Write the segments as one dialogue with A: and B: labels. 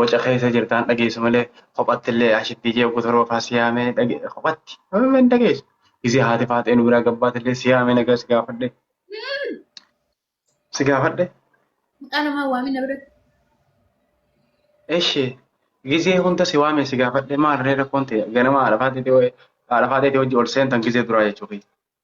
A: Waca keessa jirta hin dhageessu malee kophatti illee ashittii jee oggu torba faa si yaamee dhage kophatti amma hin dhageessu. Gizee haati faaxee nu biraa gabbaate illee si yaamee nagaa si gaafadhe. Si gaafadhe. Maqaa namaa
B: waamii na biratti. Eshi
A: gizee hunda si waamee si gaafadhe maal ree rakkoon ta'e ganama haadha faaxeetii haadha faaxeetii hojii ol seentan gizee duraa jechuufi.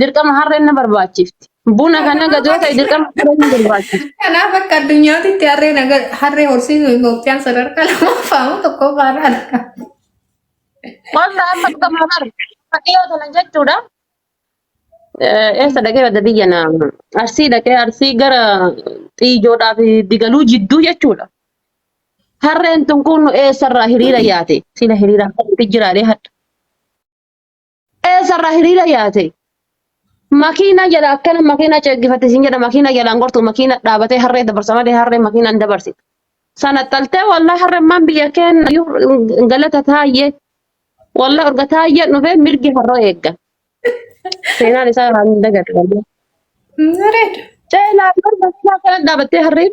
C: Dirqama harreen na barbaachifti. Buna kan na gadu yoo ta'e dirqama harreen na barbaachifti. Kanaaf akka addunyaatitti
B: harree naga harree horsiisuu Itoophiyaan sadarkaa lammaffaa moo tokkoffaa irraa argama.
C: Wanta amma dhugamaa bar fakkiyoo tana jechuudha. Eh, Eessa dhaqee badda biyya na arsii dhaqee arsii gara xiijoodhaa fi digaluu jidduu jechuudha. Harreen tun kun eessarraa hiriira yaate sila hiriira akkamitti jiraadhee hadha. Eessarraa hiriira yaate? Makiina jala akkana makiina ceeggifatte siin jedha makiina jalaan gortu makiina dhaabatee harree dabarsa malee harree makiina hin dabarsitu. Sana xaltee wallah harremmaan biyya keenya iyyuu galata taayye wallah urga taayyeen dhufee mirgi harroo eegga. Seenaan isaa irraa hin dagatu. Bareeda.
B: Ceelaa yoo
C: makiina kana dhaabattee harreen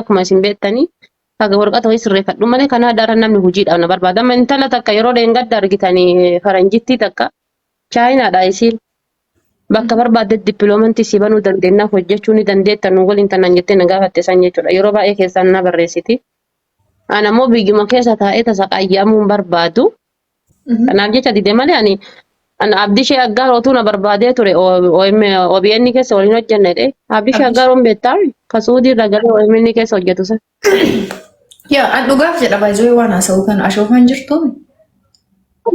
C: akkuma isin beektanii haga warqata wayii sirreeffadhu malee kanaa daran namni hojiidhaaf na barbaada. Amma intala takka yeroo dheengadda argitanii faranjittii takka chaayinaadha isiin bakka barbaadde dippiloomantii si banuu dandeenya hojjechuu ni dandeetta nu waliin tanaan jettee na gaafatte san jechuudha. Yeroo baay'ee keessaan na barreessiti. Ana immoo biyyuma keessa taa'ee tasa qayyaamuun barbaadu Kanaaf jecha dide malee ani an Abdishee Aggaar otuu na barbaadee ture OM OBN keessa waliin hojjenna jedhee. Abdishee Abdish. Aggaaruun beektaa ka Suudii irraa galee OMN keessa hojjetu san. Yaa
B: an dhugaaf jedha baay'ee waan haasa'u
C: kana ashoofaan jirtu.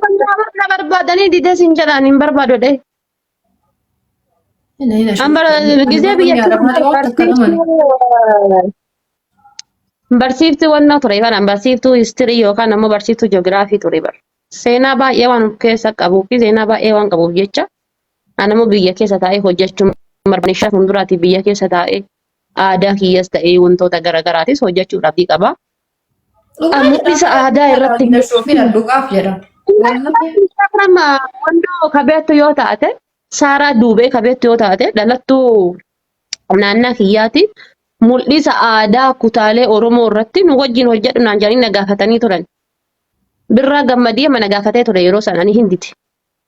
C: Kan na barbaadanii dide sin jedhaan hin barbaadu jedhee. Gizee biyya barsiiftuu wannoo ture kana barsiiftuu histirii yookaan ammoo barsiiftuu ji'oogiraafii ture bar. Seenaa baay'ee waan of keessa qabuu fi seenaa baay'ee waan qabuuf jecha ani ammoo biyya keessa taa'ee hojjechuun barbaade shan fuulduraati biyya keessa taa'ee aadaa kiyyas ta'ee wantoota garaagaraatis hojjechuuf abdii qaba. Mul'isa aadaa irratti hin Soofina dhugaaf
B: jedha. Nama
C: wandoo kabeettu yoo taate saaraa duubee kabeettu yoo taate dhalattuu naannaa kiyyaati mul'isa aadaa kutaalee Oromoo irratti nu wajjin hojjedhu naan jedhanii na gaafatanii turan. Birraa gammadii amma na gaafatee ture yeroo sana ani hindite.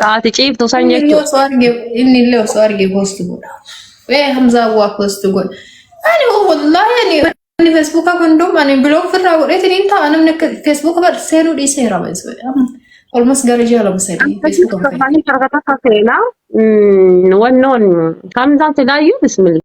C: Ka ati ciiftu san Inni illee jechuudha. osoo arge inni illee osoo
B: arge post godha. Ee Hamzaa waa post godha. Ani hoo wallaahi ani ani feesbuukaa kun hundum ani biloog ofirraa godheetiin hin ta'a namni akka feesbuuka bar seenuu dhiiseera beeksisa. Olmas gara ji'a lama sadii feesbuuka hin fayyadamu. Akkasii
C: harka takka seenaa. Wannoon Hamzaan silaayyuu bismillah.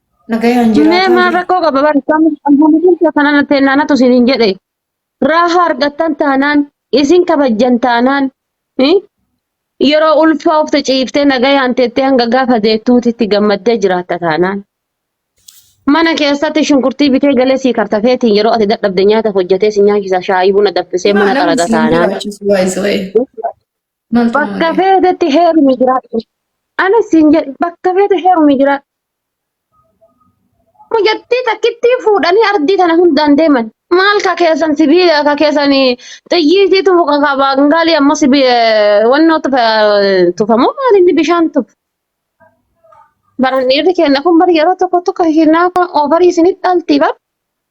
B: Nagayaan Mee jiraataa maal jira. rakkoo qaba bari
C: kan bulchiinsa kanana teennaanatu isin hin jedhe raaha argattan taanaan isin kabajjan taanaan eh, yeroo ulfaa of ciiftee nagayaan teettee hanga gaafa deettuuti itti gammaddee jiraatta taanaan mana keessatti shunkurtii bitee galee sii kartafeetiin yeroo ati dadhabde nyaata hojjetee si nyaachisa shaayii buna danfisee Maa mana namni xaraga siin taanaan jiraachisu waayisa wayii. Maaltu bakka malee? feetetti heerumi jiraadhu ani siin jedhe bakka feete heerumi jiraadhu mucattii takkittii fuudhanii ardii tana hundaan deeman maal ka keessan sibiila ka keessan xiyyiitii tufu ka ka baangaalii ammoo sibi wannoo tufa tufamoo maal inni bishaan tufu baran dhiirri keenya kun bari yeroo tokko tokko hinaafa oofarii isinit dhaltii bar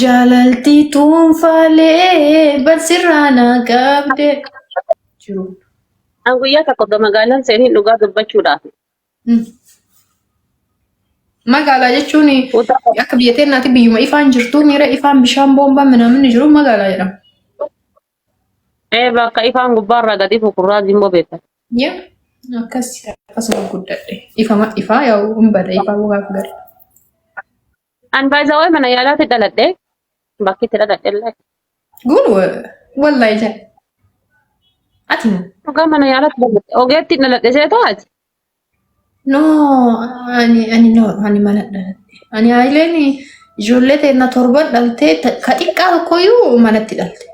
B: Jaalaltii tuunfaalee barsirraa naa qabde jiru. An
C: guyyaa tokko ga magaalaan seenin dhugaa dubbachuudhaaf Mm.
B: Magaalaa jechuun utaa akka biyya teennaatti biyyuma ifaan jirtu miira ifaan bishaan boombaan minaaminni jiru magaalaa jedhama. Ee
C: bakka ifaan gubbaarraa gad ifu kurraazii immoo beektan. Yaa akkas akkasuma
B: guddadhe. Ifama ifaa yaa hin bada ifaa gaaf
C: gara. An baay'isawwan mana yaalaatti dhaladhe bakki itti dhaladhe illee Gun
B: wallahi jaa. Ati moo? dhugaa mana yaalaatti dhaladhe
C: ogeetti dhaladhe seetoo ati. No,
B: ani ani no, ani mana dhaladhe. Ani haayileen ijoollee teenna torban dhaltee ta- ka xiqqaa tokkoyyuu manatti dhalte.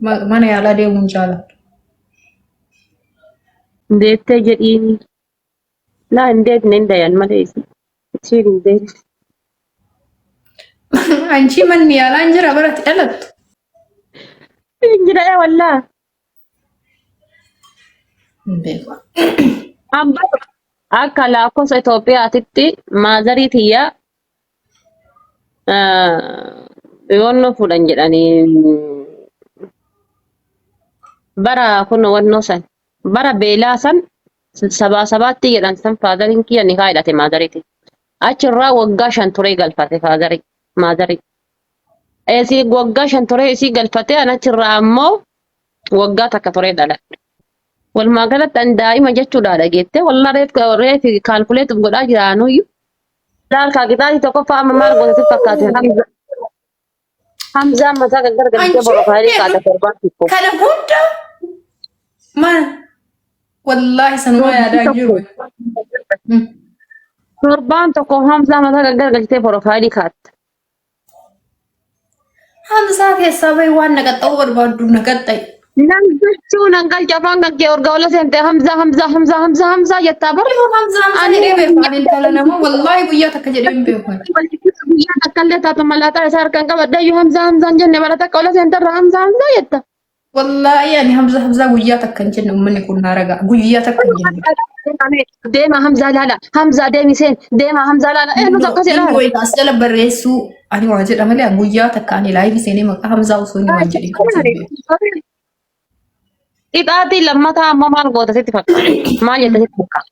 B: Ma- Mana yaalaa deemuun jaalatu.
C: Deettee jedhiin. Laa hin deetne hin dayan malee isi. Isiin hin deetne.
B: Anchi manni yaalaa hin jira baratti dhalattu.
C: Hin jira ee wallaa.
B: Hin beeku. An bara
C: akka lakkoofsa Itoophiyaatitti maazarii tiyya yoonnoo fuudhan jedhanii bara kun wannoo san bara beelaa san sabaa sabaatti jedhan san faazariin kiyya nikaa hidhate maazariiti. Achirraa waggaa shan turee galfate faazarii maazarii. Isii waggaa shan turee isii galfatee an achirraa ammoo waggaa takka turee dhaladhe. Walumaa galatti an daa'ima jechuudha dhageette. Wallah reef reef kaalkuleetuuf godhaa jira anuyyuu. Laal kaa qixaati tokkoffaa amma maal goota si fakkaate Hamza. Hamzaan mataa kan gargaltee borofaayilii kaata torbaan tokko. Kana hunda
B: maal? Wallaahi
C: sanuma Torbaan yaadaan tokko. jiru. Mm. Torbaan tokko Hamzaa mataa kan gargaltee borofaayilii kaata. Hamsaa
B: keessaa bahi waan na qaxxa'uu barbaaddu na qaxxa'i. Nan galchuu
C: nan galcha afaan kan kee urgaa ola seente hamzaa hamzaa hamzaa hamzaa hamzaa jettaa bara. Yoo Hamzaa Hamzaa Ani- jedhee
B: beeku ani intala namaa wallaahi guyyaa takka jedhee hin beeku. Guyyaa takka
C: illee taatu malaataa isaa harkaan qabadha iyyuu hamzaa hamzaan jenne bara takka ola seenterra hamzaa hamzaa jetta. Wallaahi
B: ani Hamza Hamzaa guyyaa takka hin jenne uummanni kun naa ragaa guyyaa takka hin jenne. Deema Hamzaa
C: laala. Hamzaa deemi seen. Deema Hamzaa laala. Ee nuti akkas jedhaa. Inni as jala barreessuu
B: ani waa jedha malee guyyaa takka ani laayivii seenee maqaa Hamzaa osoo inni waan jedhin qabsee
C: beeku. Ixaatii lammataa ammoo maal goota sitti fakkaata? Maal jetta sitti fakkaata?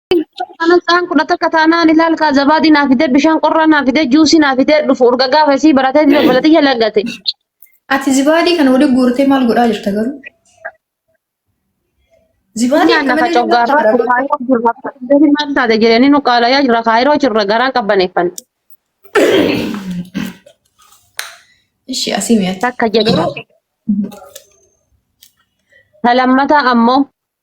C: Kana isaan kudha takka taanaan ilaal kaa zabaadii naa fidee bishaan qorraa naa fidee juusii naa fidee dhufu urga gaafa isii baratee jira balatiyya laggate. Ati
B: zibaadii kana waliin guurtee maal godhaa jirta garuu? Zibaadii Nyaanna akka ka malee nyaata coggaarraa
C: bara. kaayiroo jirra. Deebi maal taate jireenyi nu qaalayaa jirra kaayiroo jirra garaan qabbaneeffanne. Ishii
B: asii mi'atti. Takka jechuudha.
C: Garuu Ta lammataa ammoo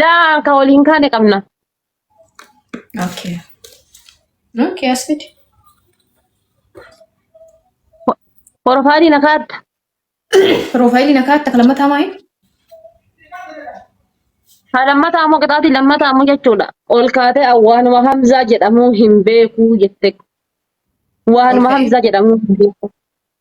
C: Laa ka wal hin kaane qabna. Okay.
B: Okay, as fidi.
C: Porofaayilii na kaatta. Piroofaayilii
B: nakaa akka lammataa maayi?
C: Ha lammataa ammoo qixaatii lammataa ammoo jechuudha. Ol kaatee waanuma Hamzaa jedhamu hin beeku jette. Ol Waanuma ka'e. Hamzaa jedhamu hin beeku.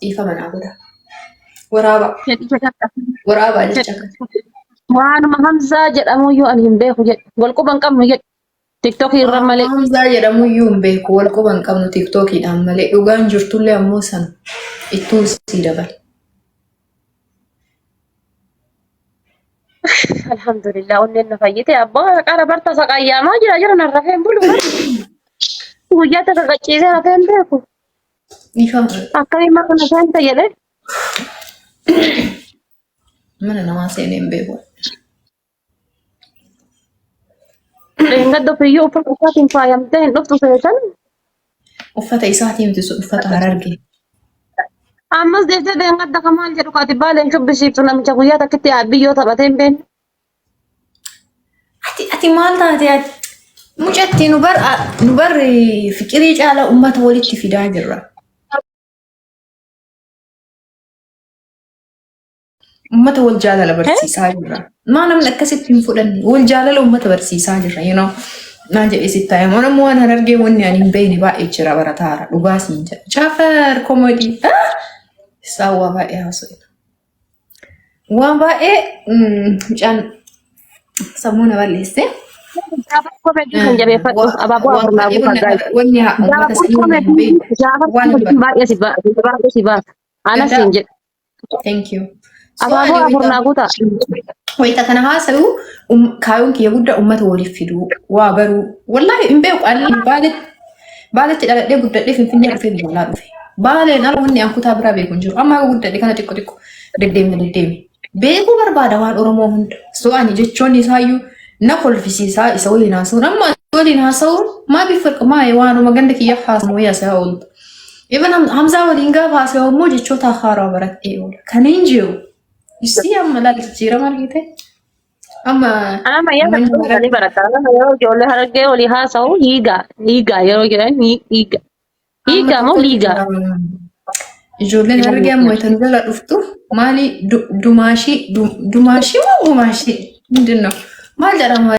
B: Dhiifama naa godha. Waraaba. jedhi jedhadha. Waraaba Jedhi. jecha kana. Waanuma
C: Hamzaa jedhamu iyyuu ani hin beeku jedhi. Wal quba hin qabnu jedhi. Tiktokii irra Waanuma malee. Hamzaa jedhamu iyyuu hin
B: beeku. Wal quba hin qabnu tiktookiidhaan malee. Dhugaan jirtullee ammoo san ittuu sii dabale.
C: Alhamdulillah onneen na fayyite. Abbaa qara barta saqayyaamaa jira jira narra heen bulu. Guyyaa takka qachiisee hafee hin beeku. Dhiifama. Akkamii ma kana seenta jedhe
B: Mana namaa seenee hin beeku.
C: dheengadda ofiyyuu uffata isaatiin faayamtee hin dhuftu seetan
B: Uffata isaatii miti sun uffata hararge.
C: ammas deebitee dheengadda ka maal jedhu kaati baaleen shubbisiiftu namicha guyyaa takkitti biyyoo taphatee hin beekne. Ati
B: ati maal taate ati? Mucatti nu bar nu bar fiqirii caalaa uummata walitti fidaa jirra. Uummata wal jaalala barsiisaa jirra. Maa namni akkasitti hin fudhanne wal jaalala uummata barsiisaa jirra. You know? Naan jedhee sitti taa'e immoo namni waan harargee wanni ani hin beekne baay'ee jira barataara dhugaa siin jedha. Caafar komodii. Saawwaa baay'ee haasofna. Waan baay'ee mucaan sammuu na balleesse. Gaafas komeetii
C: kan jabeeffadhu abaaboo afur naa guutaa gaa'e. Wanni uummata Gaafas sanii waliin
B: komeetii beeku gaafas waan komeetii dubbatu. baay'ee si baasa
C: baay'ee si baasa. Anas Danda'a. siin jedhe Thank you.
B: So abaaboo ani afur wayita
C: naa guutaa. wayita kana
B: haasa'u um- kaayyoon kiyya guddaa uummata waliif fiduu waa baruu wallaahi hin beeku ani baala Baaletti dhaladhee guddadhee Finfinnee dhufee biyya alaa dhufe. Baaleen ala wanni an kutaa biraa beeku hin jiru. Amma yoo guddadhe kana xiqqo xiqqo deddeemne deddeeme. Beekuu barbaada waan Oromoo hunda. So ani jechoonni isaayyuu na kolfisiisaa isa waliin haasa'uun. Amma isa waliin haasa'uun maa bifa maa waanuma ganda kiyya haasa'u wayii haasa'aa oolta. Even Ham- Hamzaa waliin gaafa haasa'u immoo jechoota haaraa baradhee oola. Kan hin jiru. Isii amma laal jijjiirama argite. Amma Ana mayyaa kan manni
C: dhuunfaa ni maranii barata. Ana mayyaa ijoollee harargee olii haasa'u dhiigaa dhiigaa yeroo jedhan ni dhiiga amma dhiigaa moo tokkotu dhiigaa jira.
B: Ijoolleen dhiigaa hargee amma dhiigaa. itan jala dhuftu maali du- dumaashii du- dumaashii moo gumaashii hundinuu maal jedhama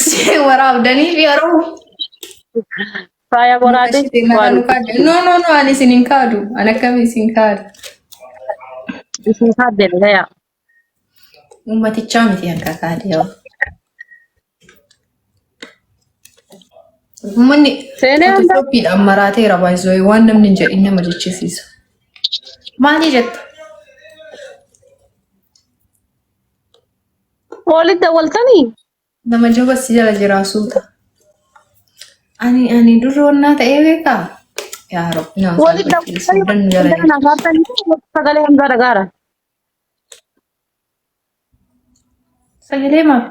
B: Ishee waraabdanii fi yeroo
C: Faaya muka boraati ishee nara waan nu kaadu. No,
B: no, no, ani isin hin kaadu. Ani akkami isin kaadu.
C: isin kaadde dhagaya. Uummatichaa
B: miti akka kaadee yoo. Uummanni Seenee hunda fotoshoppiidhaan maraateera baay'isoo waan namni hin jedhin nama jechisiisa. Maali jetta?
C: Walitti dawwaltanii? Nama jaba
B: si jala jiraa suuta. Ani ani durri wannaa ta'ee beekaa? Yaa Rabbi nama Walitti saalfachuu dawwaltanii sooddan nu
C: jala walitti jirti. dawwaltanii sagalee hamzaa dhagaara.
B: Sagalee maaf?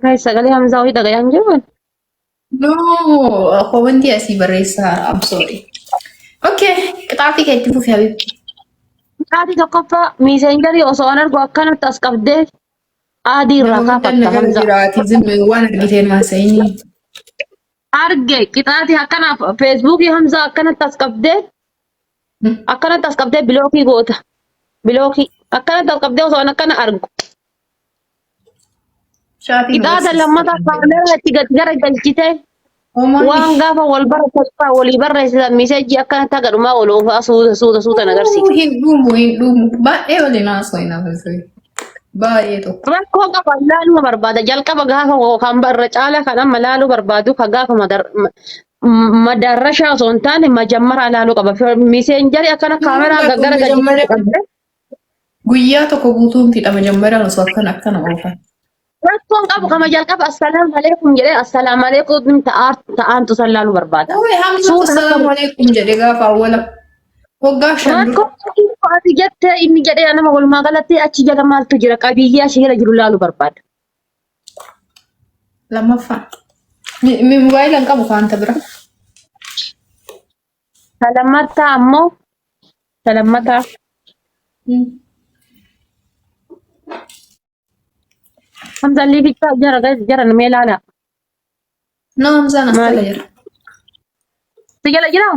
C: Guys, sagalee Hamzaa wayii dhagayaa hin jiru. No,
B: koo wanti asii barreessaa I'm sorry. Okay, qixaatii kee itti fufi habiibti. Qixaatii
C: tokkoffaa miiseenjarii osoo an argu akkanatti as qabdee aadii irraa Nama guddaan kaafatta nagara Hamzaa. jiraati zimmi waan argiteen
B: haasa'inii.
C: Arge qixaatii akkanaaf feesbuukii Hamzaa akkanatti as qabdee Akkanatti as qabdee bilookii goota. Bilookii. Akkanatti as qabdee osoo an akkana argu. Chaatiin Qixaata barsiistuu lammataa kan jedhamu. kaameeraa itti gad gara galchitee Homaa waan miti. gaafa wal baratan irraa walii barreessitan miseejii akkanatti haga dhumaa wal oofaa suuta suuta suuta na agarsiisa. Uuu, Hin dhumu hin
B: dhumu. Baay'ee waliin haasoo hin haasofne. Baay'ee tokko. Rakkoo qaba ilaaluma
C: barbaada. Jalqaba gaafa koo kan barra caala kan amma ilaaluu barbaadu kan gaafa madar- ma- M- Madaarrashaa osoo hin taane majammaraa ilaaluu qaba. Fi- Miseenjarii akkana Hin kaameraa mul'atu gaggara gadi majammara qabde
B: guyyaa tokko guutuun fixa majammaraan osoo akkana akkana oofan. rakkoon
C: qabu kama jalqaba assalaamu alaikum jedhee assalaamu alaikum ta'aa ta'aantu san ilaaluu barbaada. Uuy hamzatu Suuta akka salaamu
B: alaikum jedhe gaafa awwala waggaa shan dura. rakkoon qabu ati jettee
C: inni jedhee nama walumaa galatti achi jala maaltu jira qabiyyee achi jala jiru ilaaluu barbaada.
B: Lammaffaa. Mi- mi- Mobaayila hin qabu wanta bira.
C: Ka lammataa ammoo ka lammataa Hmm. hamza liifichaa jara guys jara nama ilaala.
B: No, Hamzaan as Maali? jala jira.
C: Si jala jiraa?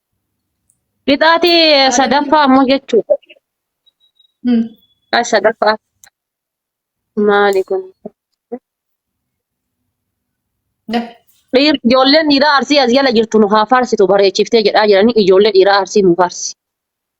C: Qixaatii Maaliif sadaffaa ammoo jechuudha. Hmm. Qixaatii sadaffaa maali kun? Da. Dhiir, ijoolleen dhiiraa arsii as jala jirtu nu haa faarsitu bareechiftee jedhaa jiranii ijoollee dhiiraa arsii nu faarsi.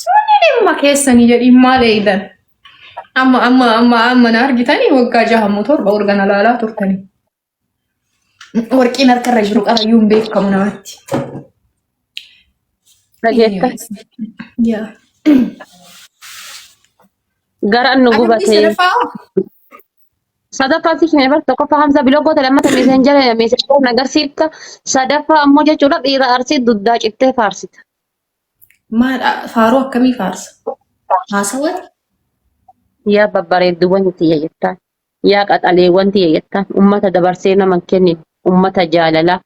B: Sunni dhimma keessanii jedhiin maal eeydan? Amma amma amma amma na argitanii waggaa jaha moo torba urgana laalaa turtanii. Warqiin harkarra jiru qarayyuun beekamu namatti.
C: Dhageetta. Yaa. Garaan nu Adabbii gubatee. sadaffaa hoo? Sadaffaa si kenne bar tokkoffaa hamsa biloo goota lammata meeseen jala meeseen na agarsiifta. Sadaffaa ammoo jechuudha dhiira arsii duddaa cittee faarsita.
B: Maadha faaruu akkamii faarsa? Haasawati?
C: Yaa babbareedduuwwan tiyya jettaan, yaa qaxaleewwan tiyya jettaan, ummata dabarsee nama hin kennine, ummata jaalalaa,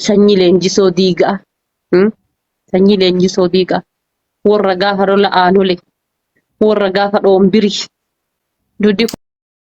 C: sanyii leenjisoo diigaa, hmm? sanyii leenjisoo diigaa, warra gaafa lola aanolee, warra gaafa dhoombiri, duddi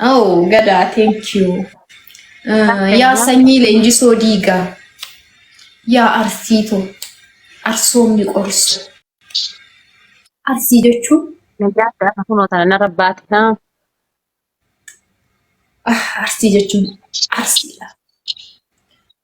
B: Oh, gadaa, thank you. Ah, yaa sanyii leenjisoo diigaa. Yaa arsiito. Arsoomni qorsu. Arsii jechuun Nagaa gaafa kunoo
C: tana narra baate haa.
B: ah, arsii jechuun arsiidha.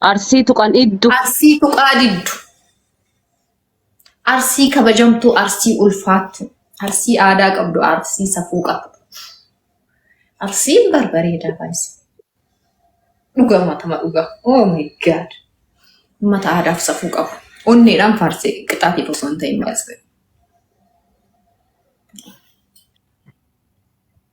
C: Arsii tuqan iddu. Arsii tuqaa diddu.
B: Arsii kabajamtuu, arsii ulfaattu, arsii aadaa qabdu, arsii safuu qabdu. Arsiin barbareedaa baay'isa. Dhugaa matama dhugaa. Oh my god. Uummata aadaaf safuu qabu. Onneedhaan faarsee qixaatii osoo hin ta'in baay'isa.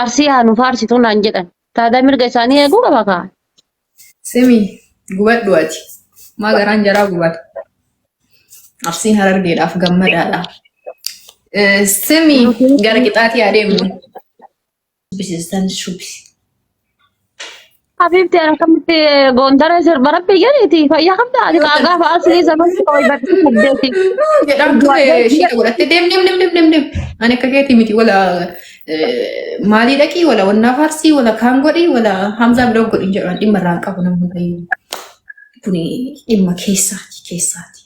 C: Arsii haa nu faarsituu naan jedhan. Taadaa mirga isaanii eeguu qaba kaa. Simi
B: gubadhu ati. Maa garaan jaraa gubata. Arsiin harargeedhaaf gammadaadha. Eh, Simi gara qixaatii adeemnu. Dubbisiistan shubbisi.
C: Habiibti akkamitti goondara sirba rabbi jedhiti fayyaa qabda ati Yoo tan gaafa asii sababni koo ibartii saddeeti jedhaan ture duwwaadee
B: ishii na godhatte deem deem deem deem deem deem. Ani akka keetii miti wala maalii dhaqii wala wannaa faarsii wala kaan godhii wala hamzaa biroo godhin jedhaan dhimma irraa hin qabu namni bayyuu. Kuni dhimma keessaati keessaati.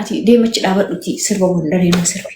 B: Ati deemachi dhaabadhuti sirba gondaree na sirbi.